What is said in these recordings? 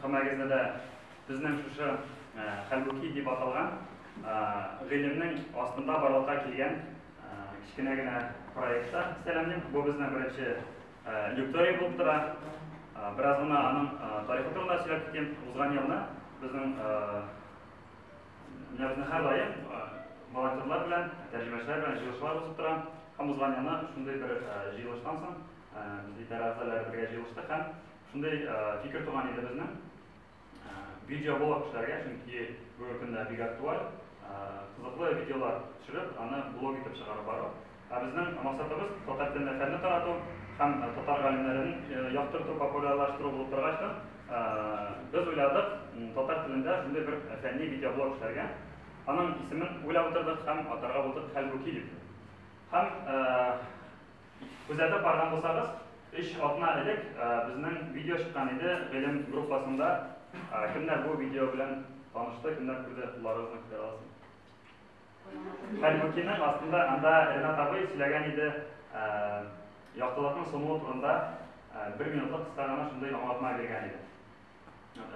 Хамәгезне дә безнең шушы хәлбуки дип аталган гыйлемнең астында барлыкка килгән кечкенә генә проектта сәламлим. Бу безнең беренче лекторий булып тора. Бераз гына аның тарихы турында сөйләп китим. Узган елны безнең менә безнең һәр даим волонтерлар белән, тәрҗемәчеләр белән җыелышлар узып тора. Һәм узган елны шундый бер җыелыштан соң без идарә әгъзалары бергә җыелыштык һәм Шундый фикер туган иде безнең видеоблог эшләргә, чөнки бүгенге көндә бик актуаль, кызыклы видеолар төшереп, аны блог итеп чыгарып бару. Ә безнең максатыбыз, татар телендә фәнне тарату һәм татар галимнәрен яктырту, популярлаштыру булып торгач та, без уйладык татар телендә шундый бер фәнни видеоблог эшләргә. Аның исемен уйлап утырдык һәм атарга булдык Хәлбуки дип. Һәм Күзәтеп барган булсагыз, өч атна элек безнең видео чыккан иде гыйлем группасында. Кемнәр бу видео белән танышты, кемнәр күрде, кулларыгызны күтәрә аласызмы? Хәлбукиның астында анда Ренат абый сөйләгән иде яктылыкның сумуы турында бер минутлык кыска гына шундый аңлатма биргән иде.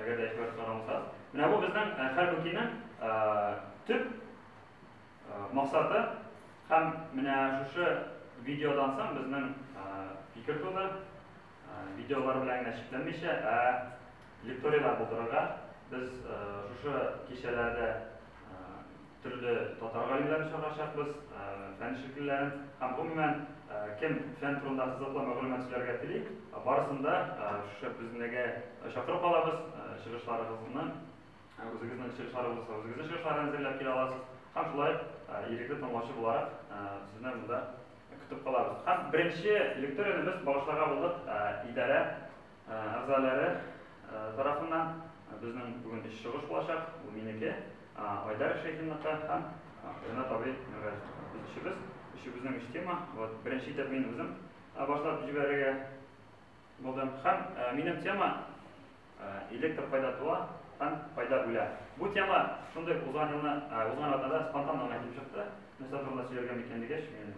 Әгәр дә игътибар сораган булсагыз. Менә бу безнең Хәлбукиның төп Максаты һәм менә шушы видеодан соң безнең фикер туды, видеолар белән генә чикләнмичә, ә лекторияләр булдырырга. Без шушы кичәләрдә төрле татар галимнәрен чакырачакбыз, фән эшлеклеләрен һәм гомумән кем фән турында кызыклы мәгълүмат сөйләргә тели, барысын да шушы безнеге чакырып алабыз, чыгышларыгызны. Үзегезнең чыгышлар булса, үзегезнең чыгышлар әзерләп килә аласыз. Һәм шулай ирекле тыңлаучы буларак сезне монда көтеп калабыз. Һәм беренче лекторияне без багышларга булдык идарә әгъзалары тарафыннан. Безнең бүген өч чыгыш булачак. Ул минеке, Айдар Шәйхинныкы һәм Ренат абый Миргаҗевныкы. Без өчебез, өчебезнең өч тема. Вот беренче итеп мин үзем башлап җибәрергә Булдым һәм минем тема электр кайда туа һәм кайда үлә. Бу тема шундый узган елны, узган атнада спонтанно гына килеп чыкты. Нәрсә турында сөйләргә микән дигәч, мин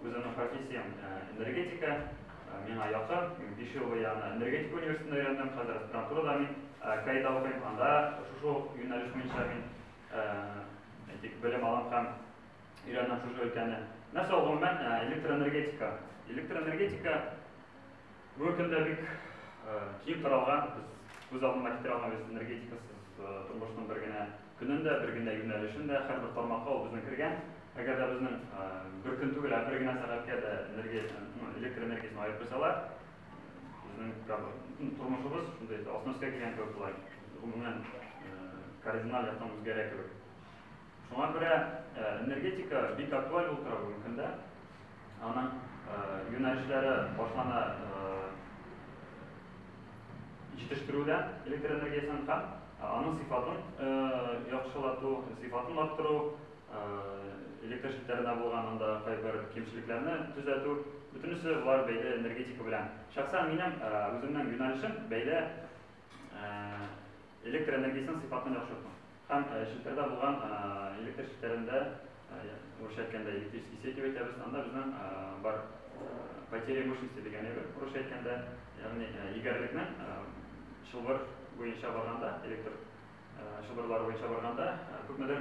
үземнең профессиям энергетика, миңа якын, мин 5 ел бу ягына энергетика университетында өйрәндем, хәзер аспирантурада мин Каида укыйм, анда шушы ук юнәлеш буенча мин әйтик, белем алам һәм өйрәнәм шушы өлкәне. Нәрсә ул гомумән э, электроэнергетика? Электроэнергетика бүгенге көндә бик э, киң таралган, без күз алдына китерә алмыйбыз энергетикасыз э, тормышның бер генә көнен дә, бер генә юнәлешен дә, һәрбер тармакка ул безнең кергән. Әгәр дә безнең бер көн түгел, ә бер генә сәгатькә дә энергия, ну, электр энергиясен аерып куйсалар, безнең тормышыбыз шундый алтмышка килгән кебек була. Гомумән кардинал яктан үзгәрә кебек. Шуңа күрә энергетика бик актуаль булып тора бүгенге көндә. Аның юнәлешләре башлана җитештерүдә электр энергиясен һәм аның сыйфатын яхшылату, сыйфатын арттыру, электр челтәренә булган анда кайбер кимчелекләрне төзәтү, бөтенесе болар бәйле энергетика белән. Шәхсән минем үземнең юнәлешем бәйле электр энергиясен сыйфатын яхшырту. Һәм челтәрдә булган электр челтәрен дә, урысча әйткәндә, электрический сеть дип әйтәбез, анда безнең бар потеря мощности дигәне бер, урысча әйткәндә, ягъни егәрлекнең чылбыр буенча барганда, электр чылбырлары буенча барганда, күпмедер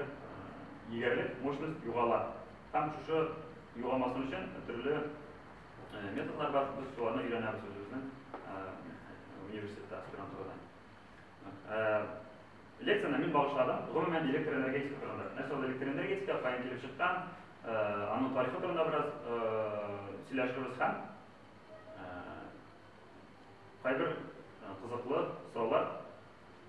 егәрлек, мощность югала. Һәм шушы югалмасын өчен төрле методлар бар, без шуларны өйрәнәбез үзебезнең университетта, аспирантурада. Лекцияне мин багышладым. Гомумән, электр энергетика турында. Нәрсә ул электр энергетика, каян килеп чыккан, аның тарихы турында бераз сөйләшербез һәм кайбер кызыклы сораулар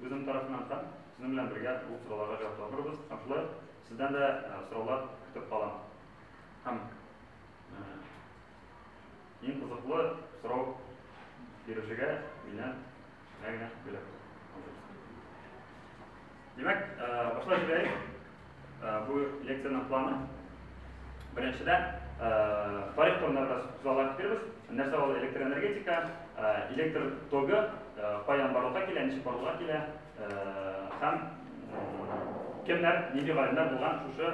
үзем тарафыннан һәм сезнең белән бергә ул сорауларга җавап табырбыз. Һәм шулай сездән дә сораулар көтеп калам. Һәм иң кызыклы сорау бирүчегә миннән Әгенә бүләк Димәк, башлап җибәрик. Бу лекциянең планы. Беренчедән, тарих турында бераз сүзләр китербез. Нәрсә ул электроэнергетика, электр тогы каян барлыкка килә, ничек барлыкка килә һәм кемнәр, нинди галимнәр булган шушы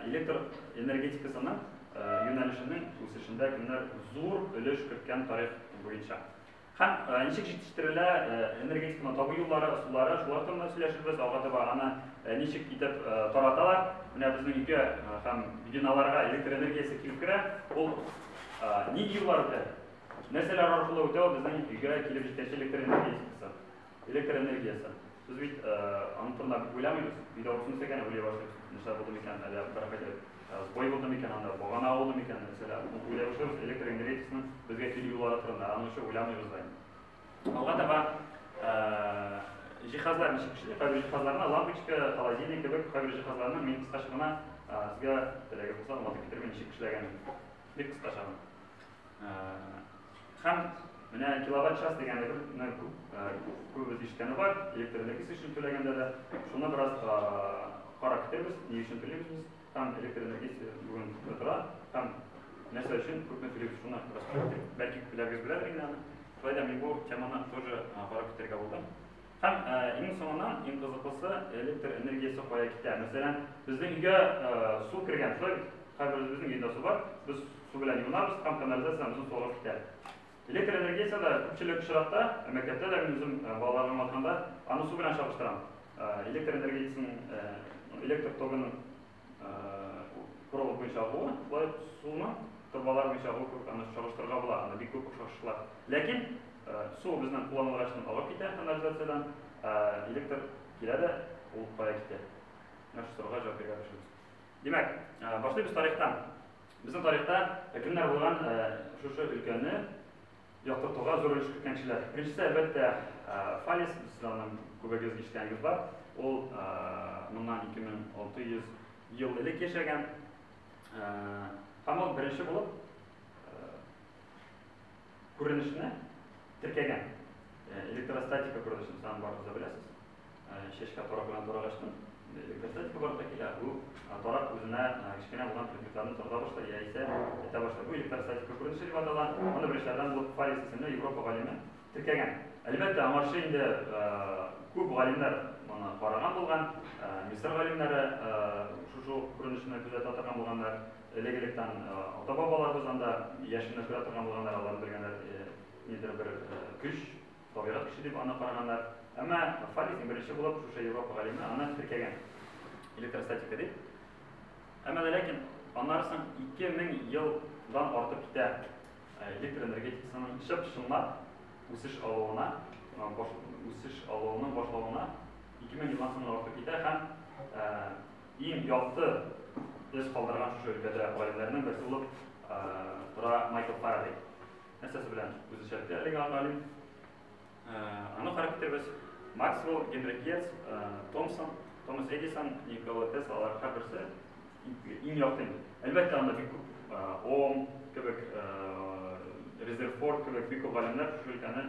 электр энергетикасының юнәлешенең үсешендә кемнәр зур өлеш керткән тарих буенча. Һәм ничек җитештерелә, энергетиканы табу юллары, ысуллары, шулар турында сөйләшербез, алга таба аны ничек итеп тараталар, менә безнең өйгә һәм биналарга электр энергиясе килеп керә, ул нинди юллар үтә, нәрсәләр аркылы үтә ул безнең өйгә килеп җиткәнче электр энергетикасы. Электр энергиясе. Без бит аның турында күп уйламыйбыз. Өйдә утын үсә икән, уйлый башлыйбыз. Нәрсә булды микән, әллә беркайчан сбой булды микән анда, багана ауды микән, нәрсәләр. Аны уйлый башлыйбыз. Электр энергетикасының безгә килү юллары турында. Аны очы уйламыйбыз да инде. Алга таба җиһазлар ничек эшли? Кайбер җиһазларны, лампочка, холодильник кебек кайбер җиһазларны мин кыскача гына сезгә теләге булса аңлатып китермим ничек эшләгәнен. Бик кыскача гына. Һәм менә киловатт час дигән әйберне күбебез ишеткәне бар, электр энергиясе өчен түләгәндә дә. Шуны бераз карап китәбез, ни өчен түлибез без, һәм электр энергиясе бүген тора, һәм нәрсә өчен күпме түлибез, шуны бераз карап китик. Бәлки күпләрегез беләдер инде аны. Шулай да мин бу теманы тоже карап китәргә булдым. Һәм иң соңыннан, иң кызыклысы, электр энергиясе кая китә. Мәсәлән, безнең өйгә су кергән, шулай бит? Һәрберебезнең өендә су бар, без су белән юынабыз һәм канализациямезнең суы агып китә. Электр энергиясе дә күпчелек очракта, мәктәптә дә мин үзем балаларга аңлатканда, аны су белән чагыштырам. Электр энергиясенең, электр тогының Корылык буенча агуы, шулай ук суны торбалар буенча агуы кебек аны чагыштырырга була, анда бик күп охшашлыклар. Ләкин су безнең кулланылгач тын агып китә канализациядән, электр килә дә, ул кая китә? Менә шул сорауга җавап бирергә тырышабыз. Димәк, башлыйбыз тарихтан. Безнең тарихта кемнәр булган шушы өлкәне Якты турга зур өлеш керткәнчеләр. Беренчесе, әлбәттә, фалес. Сез аны күбегез ишеткәнегез бар. Ул моннан 2600 ел элек яшәгән. Һәм ул беренче булып күренешне теркәгән. Электростатика күренешен сагын барыгыз да беләсез. Чәчкә тарак белән тарак ачтым. Косметика барып та килә. Бу тарак үзенә кечкенә булган предметларны тарата башлый, яисә әйтә башлый. Бу электростатика күренеше дип атала. Моны беренчеләрдән булып Фаллис исемле Европа галиме теркәгән. Әлбәттә, аңарчы инде күп галимнәр моны караган булган. Мисыр галимнәре шушы ук күренешне күзәтә торган булганнар. Элек-электән ата-бабаларыбыз анда яшенне күрә торган булганнар, алар белгәннәр ниндидер бер көч. Табигать кеше дип аны караганнар. Әмма Фаллис иң беренче булып шушы Европа галиме аны теркәгән, электростатика дип. Әмма дә ләкин аннары соң 2000 ел дан артып китә электр энергетикасының чып чынлап үсеш алуына, үсеш алуының башлауына 2000 елдан соң артып китә һәм иң якты эз калдырган шушы өлкәдә галимнәрнең берсе булып тора Майкл Фарадей. Нәрсәсе белән үзешәтте әлеге анолин? Аны карап китербез. Максвелл, Генри Гетц, Томсон, Томас Эдисон, Никола Тесла, алар һәрберсе иң якын. Әлбәттә, анда бик күп Ом кебек, Резерфорд кебек бик күп галимнәр шушы өлкәне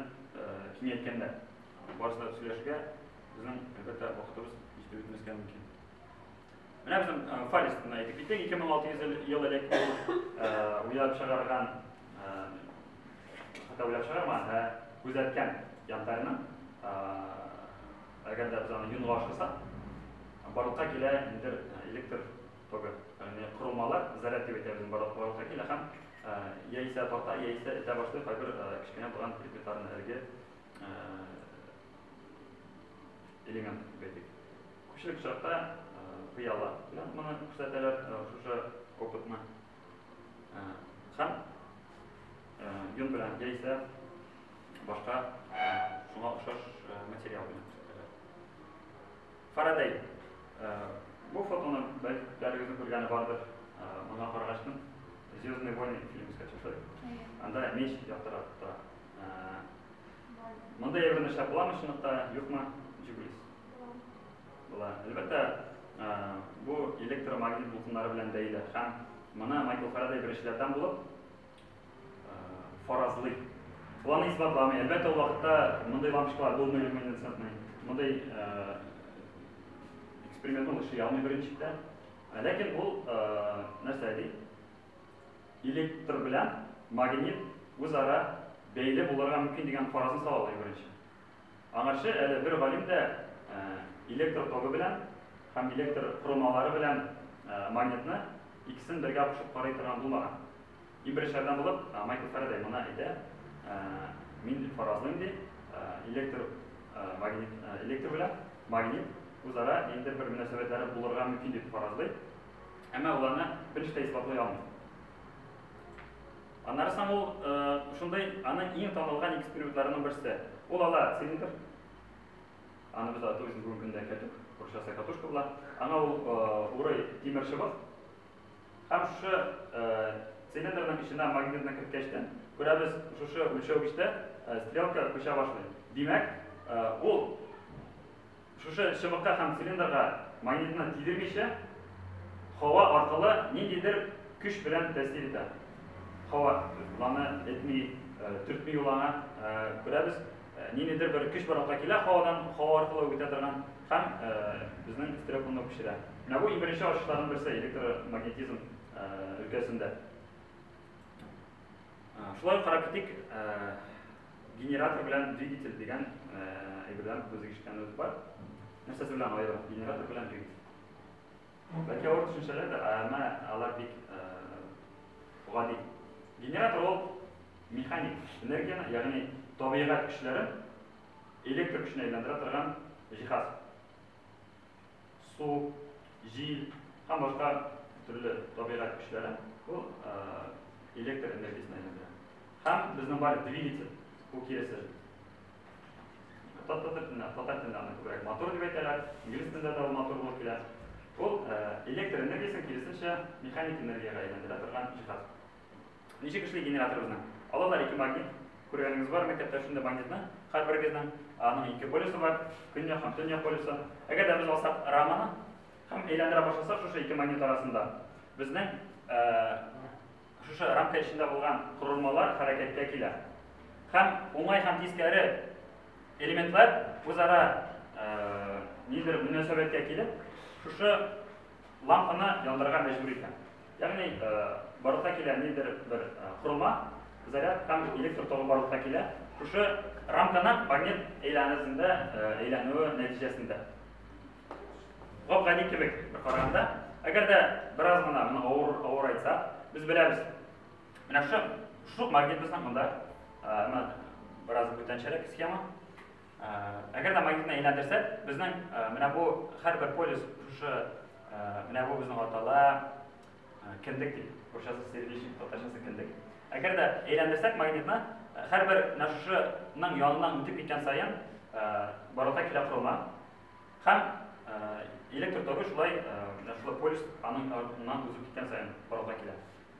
киңәйткәннәр. Барысы да сөйләшергә безнең, әлбәттә, вакытыбыз җитеп бетмәскә мөмкин. Менә безнең Фарис турында әйтеп китик, 2600 ел, ел элек ул уйлап чыгарган, хәтта уйлап чыгармаган, ә күзәткән янтарны, әгәр дә без аны юнга ашасак, барлыкка килә инде электр тогы. Ягъни корылмалар заряд дип әйтәбез барлыкка килә һәм яисә тарта, яисә этә башлый кайбер кечкенә булган предметларны әлеге элемент дип әйтик. Күпчелек чакта пыяла белән моны күрсәтәләр, шушы опытны. Һәм йон белән яисә башка шуңа охшаш материал белән күрсәтәләр. Фарадей. Бу фотоны бәлки күпләрегезнең күргәне бардыр. Моңа карагач мин Звездные войны фильмы искә төшердек. Анда меч яктырып тора. Бар. Монда ябрын эшләп буламы чынлыкта, юкмы? Ничек уйлыйсыз? Була. Була. Әлбәттә, бу электромагнит дулкыннары белән бәйле һәм моны Майкл Фарадей беренчеләрдән булып фаразлый. Ул аны исбатламый. Әлбәттә, ул вакытта мондый лампочкалар булмый люминесцентный. Мондый эксперимент ул эшли алмый беренчедән. Ләкин ул нәрсә ди? Электр белән магнит үзара бәйле булырга мөмкин дигән фаразны салалар иң беренче. Аңарчы әле бер галим дә электр тогы белән һәм электр корылмалары белән магнитны икесен бергә кушып карый торган булмаган. Иң беренчеләрдән булып Майкл Фарадей моны әйтә, Мин фаразлыйм, ди, электр магнит, электр белән магнит үзара ниндидер бер мөнәсәбәтләре булырга мөмкин дип фаразлый. Әмма ул аны бериш тә исбатлый алмый. Аннары соң ул шундый аның иң танылган экспериментларының берсе. Ул ала цилиндр. Аны без ату өчен бүгенге көндә кәтүк, курчаса катушка була. Аңа ул урый тимер чыбык. Һәм шушы цилиндрның эченә магнитны керткәч тә, күрәбез, шушы үлчәүгечтә стрелка күчә башлый. Димәк, ул Шушы чыбыкка һәм цилиндрга магнитны тидермичә, һава аркылы ниндидер көч белән тәэсир итә. Һава без аны этми, төртми ул аңа, күрәбез, ниндидер бер көч барлыкка килә һавадан, һава аркылы үк үтә торган һәм безнең стереокунны күчерә. Менә бу иң беренче ачышларның берсе электромагнетизм өлкәсендә. Шулай ук карап китик. Генератор белән двигатель дигән әйбердән без ишеткәнебез бар. Нәрсәсе белән аеру? Генератор белән двигатель. Бәлки авыр төшенчәләр дә, әмма алар бик гади. Генератор ул механик энергияне, ягъни табигать көчләрен электр көченә әйләндерә торган җиһаз. су, җил һәм башка төрле табигать көчләре бу электр энергиясенә әйләндерә. Һәм безнең бар двигатель, бу киресе. Татар телендә, татар телендә аны күбрәк мотор дип әйтәләр, инглиз телендә дә мотор булып килә. Ул электр энергиясен киресенчә механик энергиягә әйләндерә торган җиһаз. Ничек эшли генераторыбызны? Алалар ике магнит, күргәнегез бар мәктәптә шундый магнитны, һәрберегезнең аның ике полюсы бар, көньяк һәм төньяк полюсы. Әгәр дә без алсак раманы һәм әйләндерә башласак шушы ике магнит арасында, безнең шушы рамка эчендә булган корылмалар хәрәкәткә килә. Һәм уңай һәм тискәре элементлар үзара нидер мөнәсәбәткә килеп, шушы лампаны яндырырга мәҗбүр итә. Ягъни, барлыкка килә нидер бер корылма, заряд һәм электр тогы барлыкка килә. Шушы рамканың магнит әйләнәсендә әйләнүе нәтиҗәсендә. Гап-гади кебек бер караганда, әгәр дә бераз гына моны авыр, авыр айтсак, без беләбез. Менә шушы шук магнит безнең монда, бераз бүтәнчәрәк схема. Әгәр дә магнитны әйләндерсәк, безнең менә бу һәрбер полюс шушы менә бу безнең атала кендек дип, русчасы сердечник, татарчасы кендек. Әгәр дә әйләндерсәк магнитны, һәрбер менә шушының яныннан үтеп киткән саен барлыкка килә корылма һәм электр тогы шулай менә шулай полюс аның яныннан узып киткән саен барлыкка килә.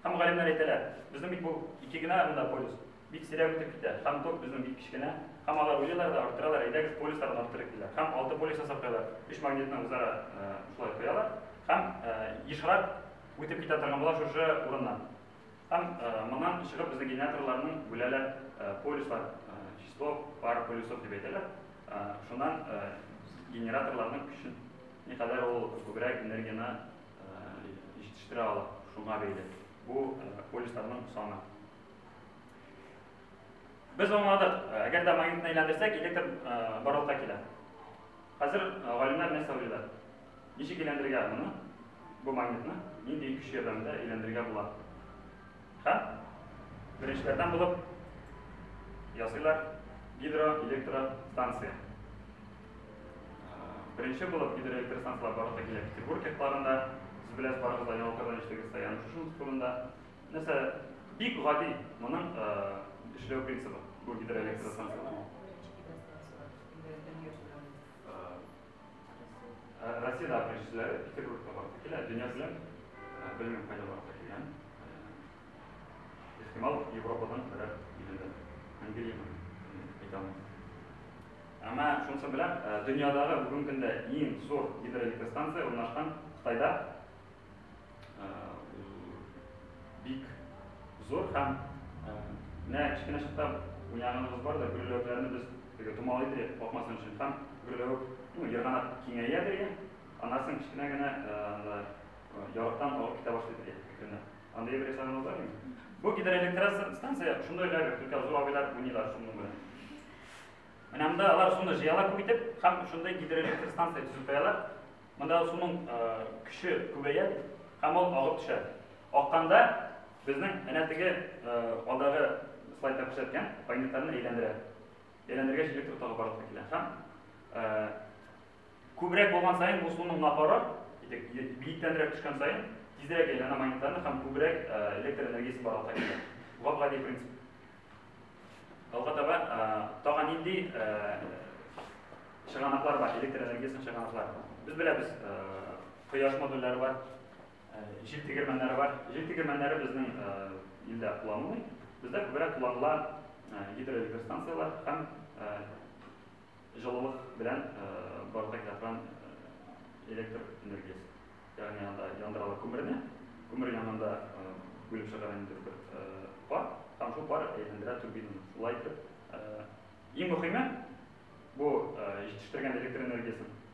Һәм галимнәр әйтәләр, безнең бит бу ике генә монда полюс, Бик сирәк үтеп китә. Һәм тук безнең бик кечкенә. Һәм алар уйлыйлар да, арттыралар, әйдәгез полюсларын арттырыйк, диләр. Һәм алты полюс ясап куялар. Өч магнитны үзара шулай куялар. Һәм ешрак үтеп китә торган була шушы урыннан. Һәм моннан чыгып безнең генераторларны бүләләр полюслар, число пар полюсов дип әйтәләр. Шуннан генераторларның көчен никадәр ул күбрәк энергияне җитештерә ала, шуңа бәйле. Бу полюсларның саны. Без аңладык, э, әгәр дә магнитны әйләндерсәк, электр э, барлыкка килә. Хәзер э, галимнәр нәрсә уйлыйлар? Ничек әйләндерергә моны? Бу магнитны нинди көч ярдәмендә әйләндерергә була? Ха? Беренчеләрдән булып ясыйлар гидроэлектростанция. Беренче булып гидроэлектростанцияләр барлыкка килә Петербург якларында. Сез беләсез, барыгыз да яңалыклардан ишетегез, Саян Шушинск турында. Нәрсә, бик гади моның эшләү принцибы бу гидроэлектростанцияләр. Россияда беренчеләре Петербургта барып килә, дөнья белән белмим кайда барып килгән. Ихтимал Европадан берәр илендә. Англияны әйтә алмыйм. Әмма шунысы белән дөньядагы бүгенге көндә иң зур гидроэлектростанция урнашкан Кытайда Бик зур һәм менә кечкенә чакта уйнаганыбыз бар да, гөрләвекләрне без теге томалый дип капмасын өчен һәм гөрләвек, ну, ерганак киңәя бирә, аннан соң кечкенә генә анда ярыктан агып китә башлый бирә, кекренә. Андый бер ясаганыбыз бар инде. Бу гидроэлектростанция шундый гына только зур абыйлар уйныйлар шуның белән. Менә монда алар шуны җыялар күп итеп һәм шундый гидроэлектростанция төзеп куялар. Монда суның көче күбәя һәм ул агып төшә. Акканда безнең әнә теге алдагы слайдта күрсәткән магнитларны әйләндерә. Әйләндергәч электр тогы барлыкка килә һәм күбрәк булган саен бу суның напоры биектәнрәк төшкән саен тизрәк әйләнә магнитларны һәм күбрәк электр энергиясе барлыкка килә. Гап-гади принцип. Алга таба тагын нинди чыганаклар бар, электр энергиясенең чыганаклары бар. Без беләбез, кояш модульләре бар, җил тегермәннәре бар. Җил тегермәннәре безнең илдә кулланылмый. Бездә күбрәк кулланыла гидроэлектростанцияләр һәм Җылылык белән барлык янгын электр энергиясе, ягъни анда яндыралар күмерне, күмер янында бүлеп чыгара ниндидер бер пар, һәм шул пар әйләндерә турбинаны. Шулай итеп, иң мөһиме, бу җитештергән электр энергиясен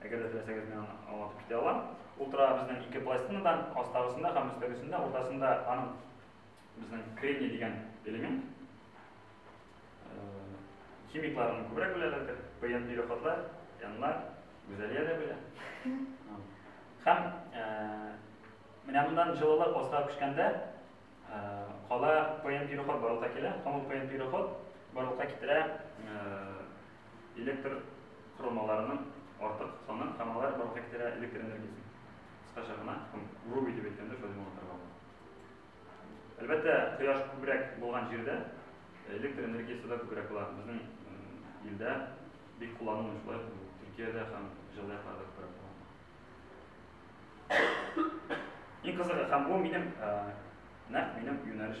Әгәр дә теләсәгез, мин аны аңлатып китә алам. Ул торага безнең ике пластинадан, астагысында һәм өстәгесендә, уртасында аның безнең кремний дигән элемент. Химикларны күбрәк беләләрдер. Пыен ире хатлар, янлар, гүзәлия дә белә. Һәм менә моннан җылылык астага күчкәндә кала пыен ире хат барлыкка килә. Һәм ул пыен ире хат барлыкка китерә электр корылмаларының артык саны һәм алар барлыкка китерә электр энергиясен, кыскача гына, һәм Руби дип әйткәндә шулай аңлатырга була. Әлбәттә, кояш күбрәк булган җирдә электр энергиясе дә күбрәк була. Безнең илдә бик кулланылмый шулай, Төркиядә һәм җылы якларда күбрәк була. Иң кызыгы, һәм бу минем нәкъ минем юнәлеш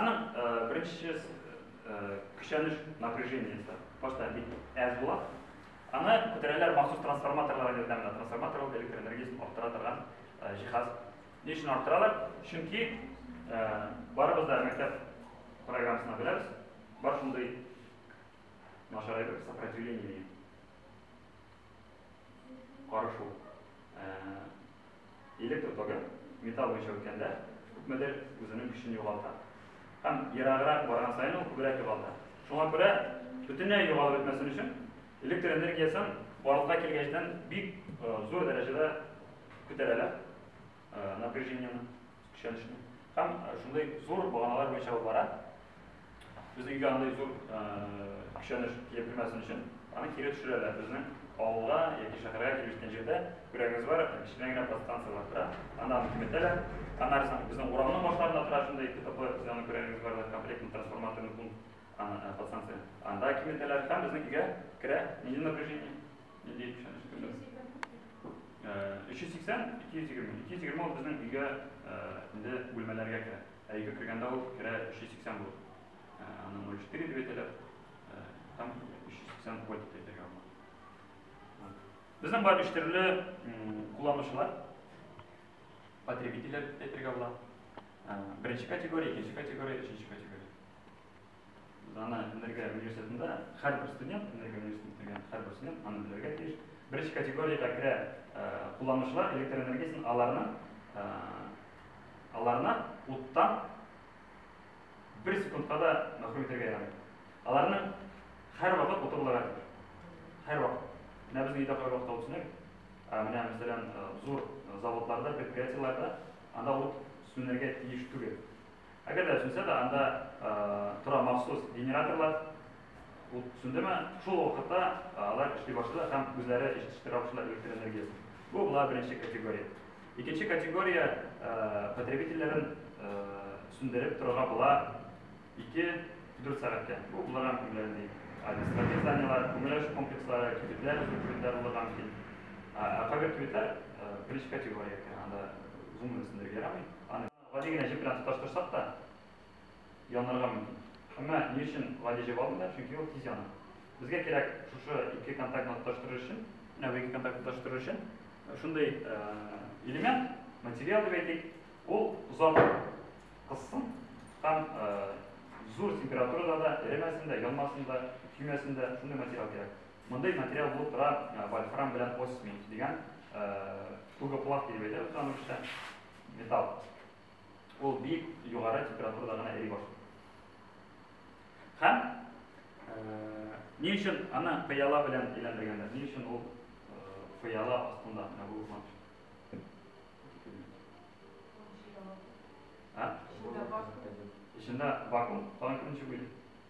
Аның беренче көчәнеш напряжениесе просто бик әз була. Аны күтәрәләр махсус трансформаторлар ярдәмендә. Трансформатор ул электр энергиясен арттыра торган җиһаз. Ни өчен арттыралар? Чөнки барыбыз да мәктәп программасына беләбез. Бар шундый начар әйбер сопротивление дигән. Карышу. Электр тогы металл буенча үткәндә күпмедер үзенең көчен югалта. Һәм ераграк барган саен ул күбрәк югалта. Шуңа күрә бөтенләй югалып бетмәсен өчен электр энергиясен барлыкка килгәчтән бик зур дәрәҗәдә күтәрәләр. напряжениене, көчәнешне. Һәм шундый зур баганалар буенча ул бара. Безнең өйгә андый зур көчәнеш килеп кермәсен өчен, аны кире төшерәләр. Безнең авылга яки шәһәргә килеп җиткән җирдә күрәгегез бар, кечкенә генә подстанция бар тора. Анда аны киметәләр. Аннары соң безнең урамның башларында тора шундый КТП, сез аны күрәгегез бар, комплектный трансформаторный пункт, аны подстанция. Анда киметәләр һәм безнең өйгә керә нинди напряжение? Не диеп ишанып көтелә? 380, 220. 220 ул безнең өйгә инде бүлмәләргә керә. Ә өйгә кергәндә ул керә 380 булып. Аны 04 дип әйтәләр. Там 380 вольт дип әйтергә була. Безнең бар өч төрле кулланучылар, потребительләр дип әйтергә була. Беренче категория, икенче категория, өченче категория. Дана энергия университетында һәрбер студент, энергия университетында бетергән һәрбер студент аны белергә тиеш. Беренче категориягә керә кулланучылар электр энергиясен аларны аларны уттан бер секундка да мәхрүм итәргә ярамый. Аларны һәр вакыт уты булырга тиеш. Һәр вакыт. Менә безнең өйдә кайвакыт вакыт алып Менә, мәсәлән, зур заводларда, предприятиеларда анда ут сүнергә тиеш түгел. Әгәр дә сүнсә дә, анда тора махсус генераторлар. Ут сүндеме, шул вакытта алар эшли башлыйлар һәм үзләре җитештерә башлыйлар электр энергиясен. Бу була беренче категория. Икенче категория потребительләрен сүндереп торырга була 2-4 сәгатькә. Бу булырга мөмкин белән ди административ зданиеләр, күмелеш комплекслары, кибетләр, зур кибетләр булырга мөмкин. Ә кайбер кибетләр беренче категория икән, анда гомумән сүндерергә ярамый. Гади генә җеп белән тоташтырсак та, янырга мөмкин. Әмма ни өчен гади җеп алмыйлар? Чөнки ул тиз яна. Безгә кирәк шушы ике контактны тоташтырыр өчен, менә бу ике контактны тоташтырыр өчен шундый элемент, материал дип әйтик, ул озак кызсын һәм зур температурада да эремәсен дә, янмасын да, көймәсен дә, шундый материал кирәк. Мондый материал булып тора вольфрам белән осмий дигән тугоплах дип әйтәбез аны русча. Металл. Ул бик югары температурада гына эри башлый. Һәм ни өчен аны пыяла белән әйләндергәннәр? Ни өчен ул пыяла астында менә бу урман? Эчендә вакуум. Тагын кем ничек уйлый?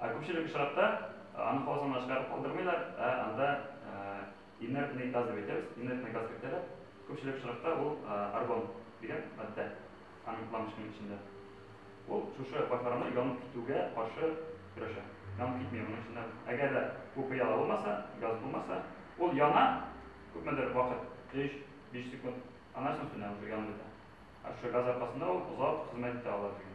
Ә күпчелек очракта аны хавыз янына чыгарып калдырмыйлар, ә анда инертный газ дип әйтәбез, инертный газ кертәләр. Күпчелек очракта ул аргон дигән матдә аның лампочканың эчендә. Ул шушы башларны янып китүгә каршы көрәшә. Янып китми моның эчендә. Әгәр дә бу пыяла булмаса, газ булмаса, ул яна күпмедер вакыт, 3-5 секунд, аннан соң сүнә, уже янып бетә. Ә шушы газ аркасында ул озак хезмәт итә ала безгә.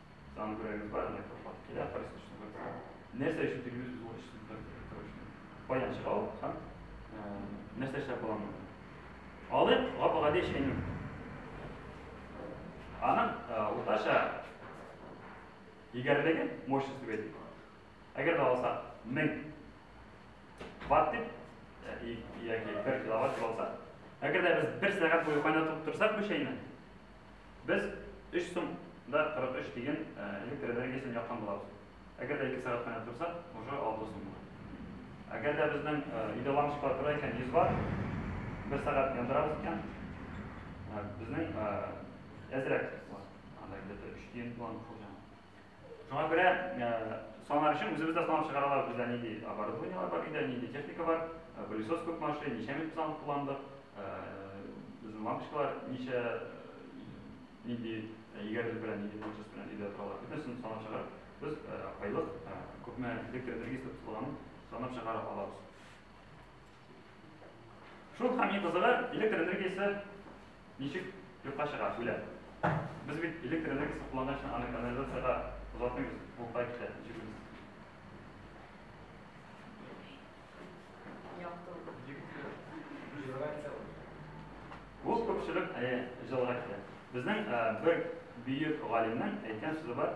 Там говорят, гвардия пошла. Я просто что такое. Нәрсә өчен тегелүз ул эш дип тартып торышны. Баян чыгау һәм нәрсә эшләп буламы? Алып, гап гади эшкәнем. Аның уртача егәрлеге мощность дип әйтик. Әгәр дә алса 1000 ватт дип яки 1 киловатт дип алса, әгәр дә без 1 сәгать буе кайнатып торсак бу чәйне, Без өч сум да 43 тиен электр энергиясен яккан булабыз. Әгәр дә ике сәгать кенә торсак, уже алты сум була. Әгәр дә безнең өйдә лампочкалар тора икән, 100 ватт, бер сәгать яндырабыз икән, безнең әзрәк була. Анда где-то өч тиен булган булса, Шуңа күрә санар өчен үзебез дә санап чыгара алабыз, бездә нинди оборудованиелар бар, өйдә нинди техника бар, пылесос күп машин, ничә минут санап кулландык, безнең лампочкалар ничә нинди егәрелеп белән, нинди тончество белән өйдә торалар. Бөтенесен санап чыгарып, без айлык күпме электр энергиясе тотылганын санап чыгара алабыз. Шул һәм иң кызыгы, электр энергиясе ничек юкка чыга, үлә. Без бит электр энергиясе кулланган өчен аны канализациягә озатмыйбыз, ул кая китә, ничек белмисез. Ул күпчелек җылыга китә. Безнең бер бөек галимнең әйткән сүзе бар,